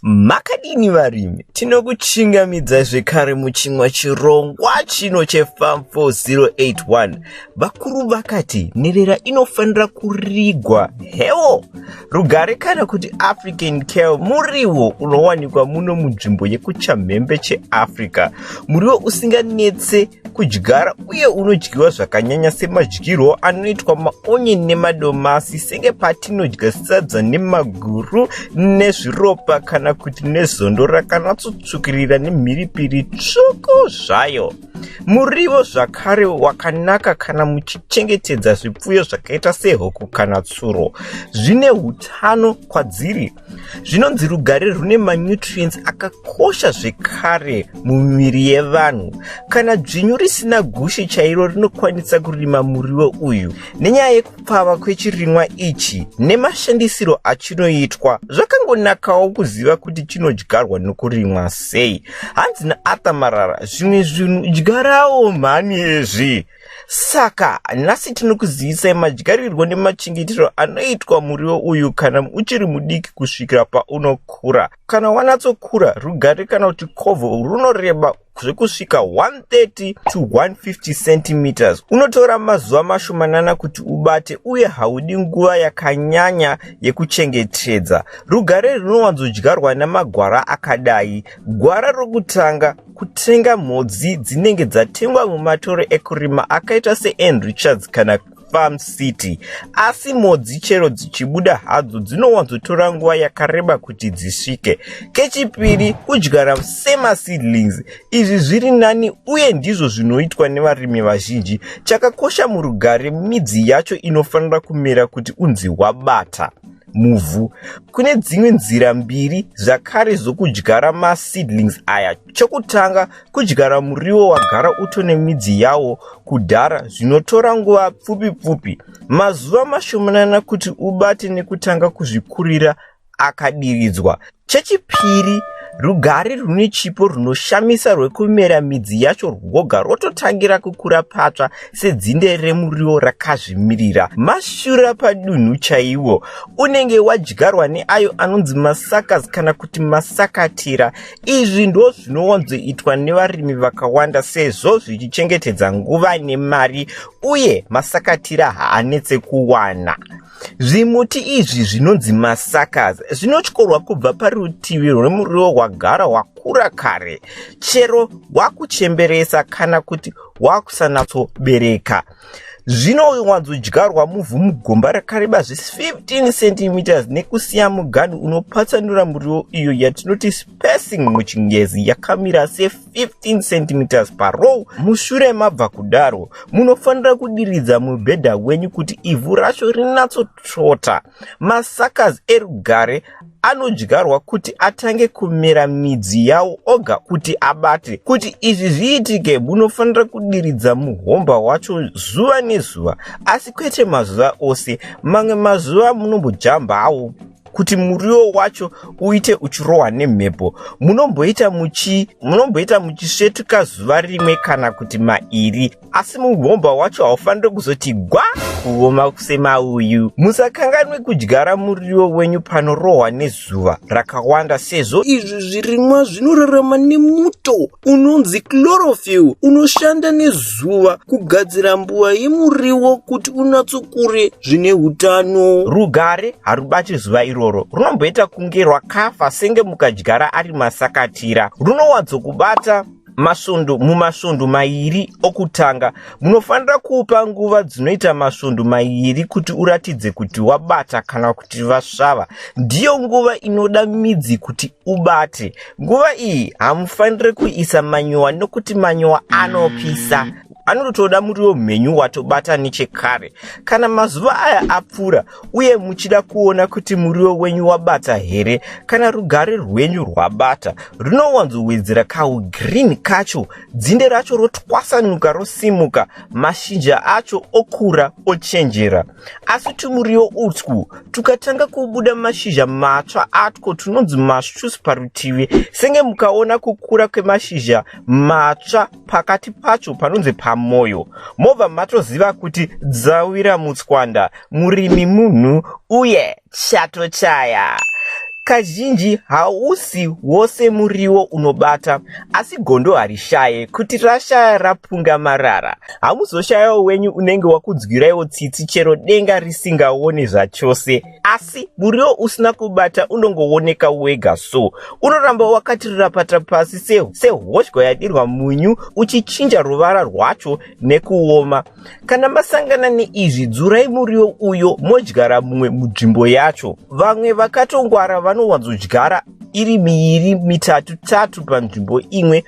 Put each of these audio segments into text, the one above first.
Makadini varimi? Tinokuchingamidzai zvekare muchimwa chirongwa chino cheFarm 4081. Vakuru vakati nherera inofanira kurigwa hewo rugare kana kuti African kale muriwo unowanikwa muno munzvimbo yekuchamhembe cheAfrica. Muriwo usinganetse kudyara uye unodyiwa zvakanyanya semadyirwo anoitwa maonyen nemadomasi senge patinodya sadza nemaguru nezviropa kana kuti nezondo rakanatsotsvukirira nemhiripiri tsvuku zvayo murivo zvakare wakanaka kana muchichengetedza zvipfuyo zvakaita sehuku kana tsuro zvine utano kwadziri zvinonzi rugare rune manutrients akakosha zvekare mumiviri yevanhu kana dzvinyu risina gushi chairo rinokwanisa kurima muriwo uyu nenyaya yekupfava kwechirimwa ichi nemashandisiro achinoitwa zvakangonakawo kuziva kuti chinodyarwa nokurimwa sei hanzi naarthur marara zvimwe zvinhu dyarawo mhani ezvi saka nhasi tinokuzivisai madyarirwo nemachengetero anoitwa muriwo uyu kana uchiri mudiki kusvikira paunokura kana wanatsokura rugare kana kuti kovho runoreba zvekusvika 130 to 150 centimeters unotora mazuva mashomanana kuti ubate uye haudi nguva yakanyanya yekuchengetedza rugare rinowanzodyarwa nemagwara akadai gwara rokutanga kutenga mhodzi dzinenge dzatengwa mumatoro ekurima akaita seann richards kana farm city asi mhodzi chero dzichibuda hadzo dzinowanzotora nguva yakareba kuti dzisvike kechipiri kudyara semaseedlings izvi zviri nani uye ndizvo zvinoitwa nevarimi vazhinji chakakosha murugare midzi yacho inofanira kumera kuti unzi wabata muvhu. Kune dzimwe nzira mbiri zvakare zvokudyara maseedlings aya. Chokutanga, kudyara muriwo wagara uto nemidzi yawo kudhara zvinotora nguva pfupi pfupi, mazuva mashomanana kuti ubate nekutanga kuzvikurira akadiridzwa. Chechipiri, rugare rune chipo runoshamisa rwekumera midzi yacho rwoga rwototangira kukura patsva sedzinde remuriwo rakazvimirira. Mashura padunhu chaiwo unenge wadyarwa neayo anonzi masakas kana kuti masakatira. Izvi ndo zvinowanzoitwa nevarimi vakawanda sezvo zvichichengetedza nguva nemari uye masakatira haanetse kuwana. Zvimuti izvi zvinonzi masakas zvinotyorwa kubva parutivi rwemuriwo rwagara wakura kare chero wakuchemberesa kana kuti wakusanatsobereka zvinowanzodyarwa muvhu mugomba rakareba zve15 cm nekusiya mugani unopatsanura muriwo iyo yatinoti spacing muchingezi yakamira se 15 cm parow mushure mabva kudaro munofanira kudiridza mubhedha wenyu kuti ivhu racho rinatsotsvota masakas erugare anodyarwa kuti atange kumera midzi yawo oga kuti abate kuti izvi zviitike munofanira kudiridza muhomba wacho zuva nezuva asi kwete mazuva ose mamwe mazuva munombojambawo kuti muriwo wacho uite uchirohwa nemhepo munomboita muchi munomboita muchisvetuka zuva rimwe kana kuti mairi asi mugomba wacho haufanire kuzoti gwa kuoma semauyu musakanganwe kudyara muriwo wenyu panorohwa nezuva rakawanda sezvo izvi zvirimwa zvinorarama nemuto unonzi chlorophyll unoshanda nezuva kugadzira mbuva yemuriwo kuti unatsokure zvine utano rugare harubati zuva iroro runomboita kunge rwakafa senge mukadyara ari masakatira runowanzokubata masvondo mumasvondo mairi okutanga munofanira kuupa nguva dzinoita masvondo mairi kuti uratidze kuti wabata kana kuti vasvava ndiyo nguva inoda midzi kuti ubate nguva iyi hamufanire kuisa manyowa nokuti manyowa anopisa anotoda muriwo mhenyu watobata nechekare kana mazuva aya apfuura uye muchida kuona kuti muriwo wenyu wabata here kana rugare rwenyu rwabata runowanzowedzera kaugreen kacho dzinde racho rotwasanuka rosimuka mashinja acho okura ochenjera Asi tumuriwo utwu tukatanga kubuda mashizha matsva atwo tunonzi masvus parutivi senge mukaona kukura kwemashizha matsva pakati pacho panonzi pamoyo mobva matoziva kuti dzawira mutswanda murimi munhu uye chatochaya. Kazhinji hausi wose muriwo unobata, asi gondo harishaye kuti rashaya rapunga marara. Hamuzoshayawo wenyu unenge wakudzwiraiwo tsitsi chero denga risingaone zvachose, asi muriwo usina kubata unongooneka wega so. Unoramba wakatirapata pasi sehoshwa yadirwa munyu uchichinja ruvara rwacho nekuoma. Kana masangana neizvi, dzurai muriwo uyo modyara mumwe munzvimbo yacho. Vamwe vakatongwara vanowanzodyara iri miiri mitatu tatu panzvimbo imwe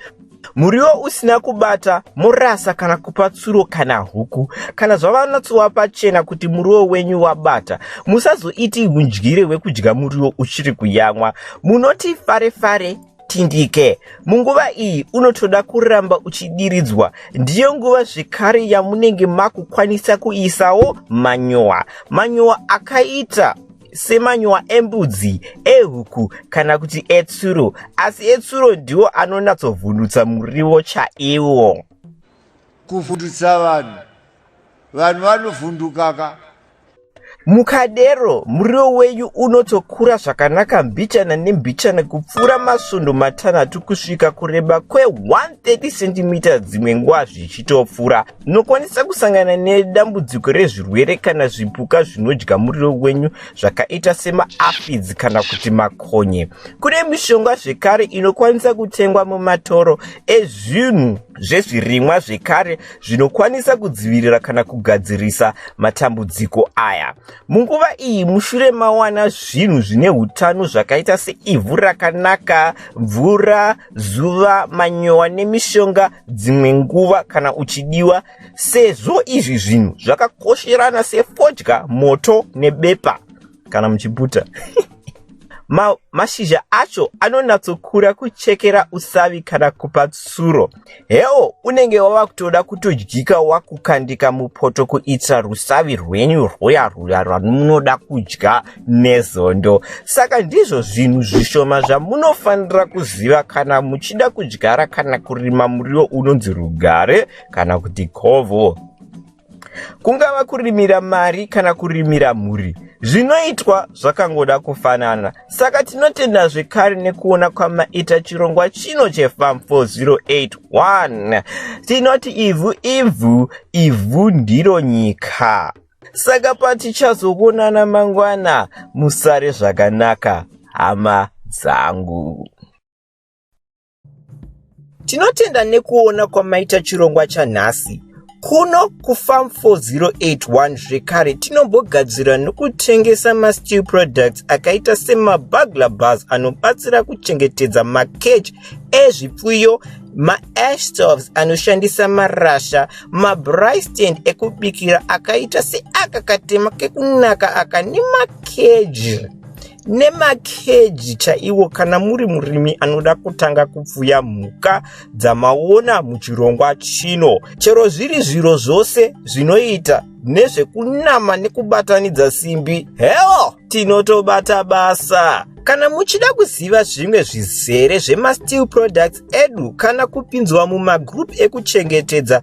muriwo usina kubata morasa kana kupa tsuro kana huku kana zvavanatsova pachena kuti muriwo wenyu wabata musazoiti hundyire hwekudya muriwo uchiri kuyamwa munoti fare fare tindike. Munguva iyi unotoda kuramba uchidiridzwa. Ndiyo nguva zvekare yamunenge makukwanisa kuisawo manyowa. Manyowa akaita semanyowa embudzi ehuku kana kuti etsuro asi etsuro ndiwo anonatsovhundutsa muriwo chaiwo kuvhundutsa vanhu vanhu vanovhundukaka Mukadero, muriwo wenyu unotokura zvakanaka mbichana nembichana kupfuura masvondo matanhatu kusvika kureba kwe-130 cm dzimwe nguva zvichitopfuura. Munokwanisa kusangana nedambudziko rezvirwere kana zvipuka zvinodya muriwo wenyu zvakaita semaafidzi kana kuti makonye. Kune mishonga zvekare inokwanisa kutengwa mumatoro ezvinhu zvezvirimwa zvekare zvinokwanisa kudzivirira kana kugadzirisa matambudziko aya munguva iyi mushure mawana zvinhu zvine utano zvakaita seivhu rakanaka mvura zuva manyowa nemishonga dzimwe nguva kana uchidiwa sezvo izvi zvinhu zvakakosherana sefodya moto nebepa kana muchiputa Ma, mashizha acho anonyatsokura kuchekera usavi kana kupa tsuro hewo unenge wava kutoda kutodyika wakukandika mupoto kuitira rusavi rwenyu rwuya rwuya rwamunoda kudya nezondo saka ndizvo zvinhu zvishoma zvamunofanira kuziva kana muchida kudyara kana kurima muriwo unonzi rugare kana kuti kovo kungava kurimira mari kana kurimira mhuri zvinoitwa zvakangoda kufanana saka tinotenda zvekare nekuona kwamaita chirongwa chino chefam 4081 tinoti ivhu ivhu ivhu ndiro nyika saka patichazoonana mangwana musare zvakanaka hama dzangu Tinotenda nekuona kwamaita chirongwa chanhasi. Kuno kuFarm 4081 zvekare tinombogadzira nokutengesa masteel products akaita semabugler bars anobatsira kuchengetedza makeji ezvipfuyo maashtoves anoshandisa marasha mabristand ekubikira akaita seaka katema kekunaka aka nemakeji nemakeji chaiwo kana muri murimi anoda kutanga kupfuya mhuka dzamaona muchirongwa chino chero zviri zviro zvose zvinoita nezvekunama nekubatanidza simbi heo tinotobata basa kana muchida kuziva zvimwe zvizere zvemasteel products edu kana kupinzwa mumagroup ekuchengetedza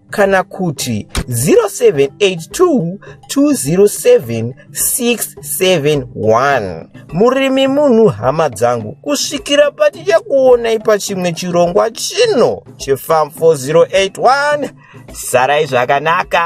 kana kuti 0782207671 murimi munhu hama dzangu kusvikira patichakuonai pachimwe chirongwa chino chefam 4081 sarai zvakanaka